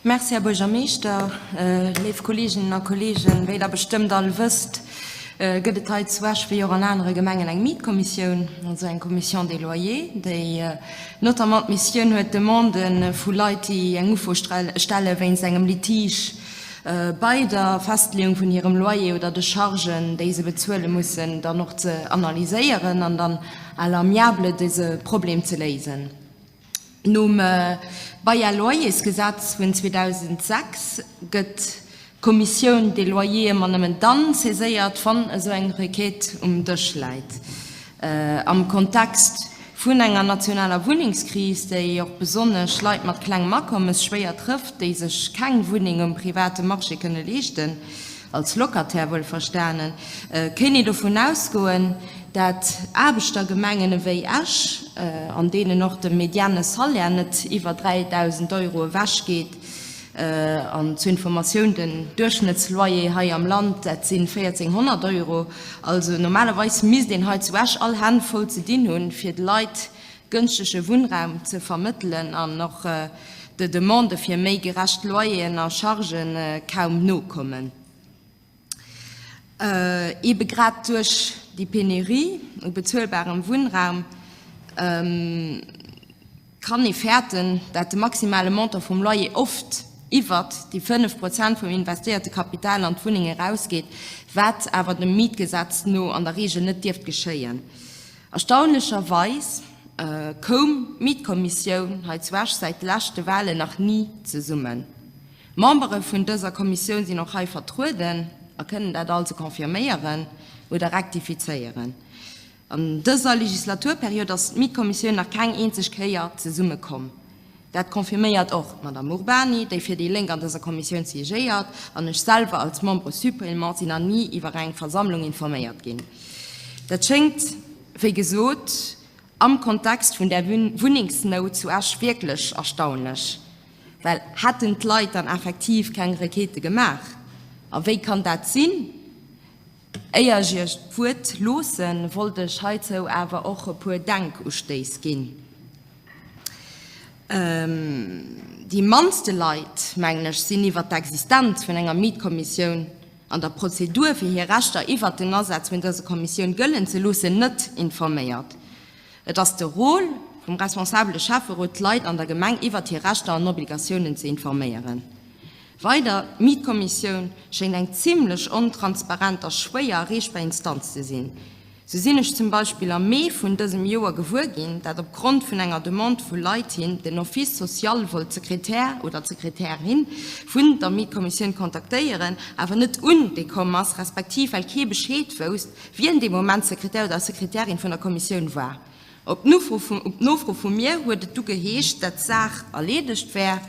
Merci, Här Buergermeeschter. Léif Kolleeginnen a Kolleegen, wéi Der bestëmmt all wësst, gëtt et hei zu Esch, wéi och an anere Gemengen, eng Mietkommissioun, also eng Commission des loyers, déi notamment d'Missioun huet, Demandë vu Leit, déi eng Ufro stelle wéinst engem Litige bei der Festleeung vun hirem Loyer oder de Chargen, déi se bezuele mussen, dann och ze analyséieren an dann à l'amiable dëse Problem ze léisen. Nom Bail-loyers-Gesetz vun 2006 gëtt d'Commissioun des loyers ëmmer nëmmen dann saiséiert, wann esou eng Requête um Dësch läit. Am Kontext vun enger nationaler Wunnengskris, déi och besonnesch Leit mat klengem Akommes schwéier trëfft, déi sech keng Wunneng um private Marché kënne leeschten, als Locataire wuel verstanen, kéint ee dovun ausgoen, dat Aarbechtergemengen ewéi Esch, an deenen och de mediane Salaire net iwwer 3.000 Euro ewech geet, an zur Informatioun, den Duerchschnëttsloyer hei am Land, dat si 1.400 Euro, also normalerweis misst een hei zu Esch all Hänn voll ze dinn hunn, fir de Leit gënschtege Wunnraum ze vermëttelen an och de Demandë fir méi gerecht Loyeren a Chargë kaum nokommen, ebe grad duerch déi Penurie u bezuelbarem Wunnraum. Kann ee fäerten, dat de maximale Montant vum Loyer oft iwwert déi 5 Prozent vum investéierte Kapital an d'Wunneng erausgeet, wat awer dem Mietgesetz no an der Reegel net dierft geschéien? Erstaunlecherweis koum d'Mietkommissioun hei zu Esch säit de leschte Walen nach ni zesummen. D'Membere vun dëser Kommissioun sinn och hei vertrueden a kënnen dat also confirméieren oder rektifizéieren. An dëser Legislaturperiod ass d'Mietkommissioun nach keng eenzeg Kéier zesummekomm. Dat confirméiert och d'Madame Urbany, déi fir déi Lénk an dëser Kommissioun siégéiert, an ech selwer als Membre suppléant sinn nach ni iwwer eng Versammlung informéiert ginn. Dat schéngt, wéi gesot, am Kontext vun där Wunnengsnout zu Esch wierklech erstaunlech, well hätten d'Leit dann effektiv keng Requête gemaach? A wéi kann dat sinn? Éier ech Iech d'Wuert loossen, wollt ech heizou awer och e puer Denkustéiss ginn. Déi mannste Leit, mengen ech, sinn iwwert d'Existenz vun enger Mietkommissioun an der Prozedur, fir hir Rechter iwwert den Asaz vun dëser Kommissioun gëllen ze loossen, net informéiert. Et ass de Rôle vum responsabele Schäfferot, d'Leit an der Gemeng iwwert hir Rechter an Obligatiounen ze informéieren. Weider, D'Mietkommissioun schéngt eng zimlech ontransparent a schwéier erreechbar Instanz ze sinn. Sou sinn ech zum Beispill am Mee vun dësem Joer gewuer ginn, dat op Grond vun enger Demande vu Leit hin den Office social wollt d'Sekretär oder d'Sekretärin vun der Mietkommissioun kontaktéieren, awer net un déi komm ass, respektiv well kee Bescheed wousst, wien dee Moment Sekretär oder Sekretärin vun der Kommissioun war. Op Nofro vu mir huet et du geheescht, dat d'Saach erleedegt wär,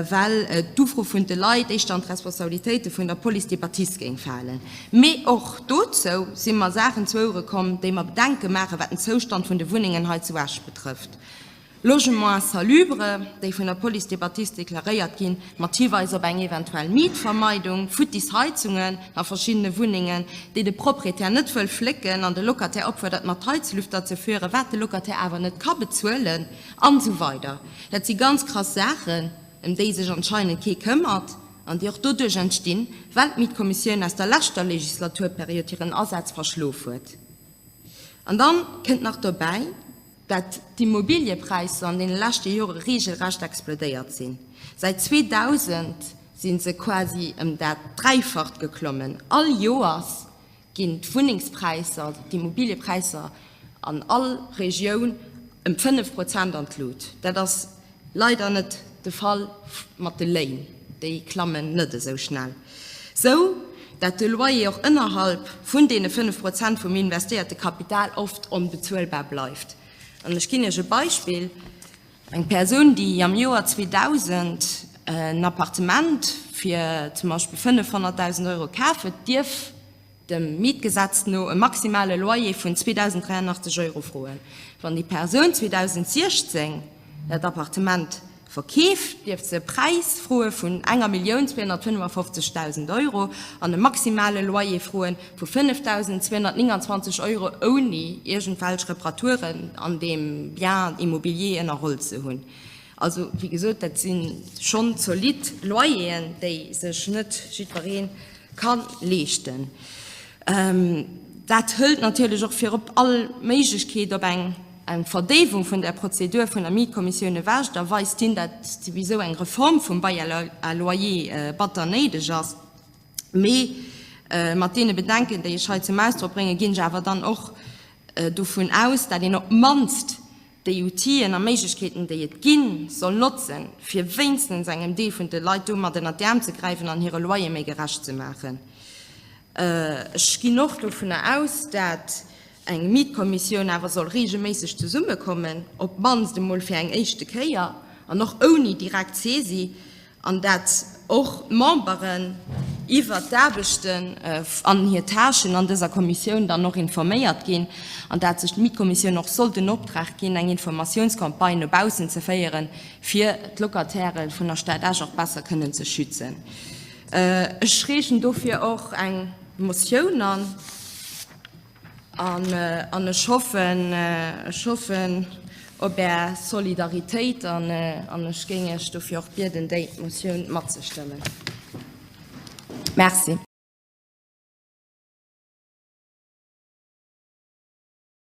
well d'Ufro vun de Leit éischter an d'Responsabilitéite vun der Police de bâtisse géing falen. Mee och dozou si mer Saachen zu Ouere komm, déi mer Bedenke maachen, wat den Zoustand vun de Wunnengen hei zu Esch betrëfft. Logement insalubre, déi vun der Police de Bâtisse deklaréiert ginn, mat Hiweis op eng eventuell Mietvermeidung, futtis Heizungen a verschiddene Wunnengen, déi de Proprietär net wëll flécken an de Locataire opfuerdert, mat Heizlüfter ze fueren, wat de Locataire awer net ka bezuelen, an esou weider Dat si ganz krass Saachen, ëm déi sech anscheinend kee këmmert an déi och doduerch entstinn, well d'Mietkommissioun aus der leschter Legislaturperiod hiren Asaz verschlof huet. An dann kënnt nach dobäi, Datt d'Immobiliëpräisser an deene leschte Jore reegelrecht explodéiert sinn. Säit 2000 si se quasi ëm dat Dräifacht geklommen. All Joers ginn d'Wunnengspräisser, also d'Immobiliëpräisser an all Regioun ëm fënnef Prozent an d'Lut. Dat ass Leider net de Fall mat de Léin, déi klammen net esou schnell, sou dat de Loyer och ënnerhalb vun deene 5 Prozent vum investéierte Kapital oft onbezuelbar bleift. An ech ginn Iech e Beispill, Eng Persoun, déi am Joer 2000 en Appartement fir zum Beispill 500.000 Euro kafen, dierf, dem Mietgesetz no e maximale Loyer vun 2.083 Euro froen. Wann déi Persoun 2016 dat Appartement verkeeft, dierf se e Präis froe vun enger Millioun 255.000 Euro an e maximale Loyer froe vu 5.229 Euro, ouni iergendwelch Reparaturen an deem Bien immobilier ënnerholl ze hunn. Also, wéi gesot, dat si schonn zolidd Loyeren, déi sech net jiddweree ka leeschten. Dat hëlt natierlech och virop all Méiglechkeet op eng Verdéiwung vun der Prozedur vun der Mietkommissioun ewech. Da weist hien, datt souwisou eng Reform vum Bail à loyer batter néideg ass. Mee mat deene Bedenken, déi ech hei zum Ausdrock bréngen, ginn ech awer dann och dovun aus, datt een op d'mannst déi Outien a Méiglechkeeten, déi et ginn, soll notzen, fir wéinstens engem Deel vun de Leit domat ënnert d'Äerm ze gräifen an hire Loyer méi gerecht ze maachen. Ech ginn och dovunner aus, dat eng Mietkommissioun awer soll reegelméisseg zesummekommen, op d'mannst emol fir eng éischte Kéier an och ouni direkt Saisie, an dat och d'Memberen iwwert d'Aarbechten an hir Tâchen an dëser Kommissioun dann och informéiert ginn, an dat sech d'Mietkommissioun och soll den Optrag ginn, eng Informatiounscampagne no baussen ze féieren, fir d'Locatairë vun der Stad Esch och besser kënnen ze schützen. Ech reegen dofir och eng Motioun an. An ech hoffen, ech hoffen op Är Solidaritéit an ech géing Iech dofir och bieden, déi Motioun matzestëmmen. Merci.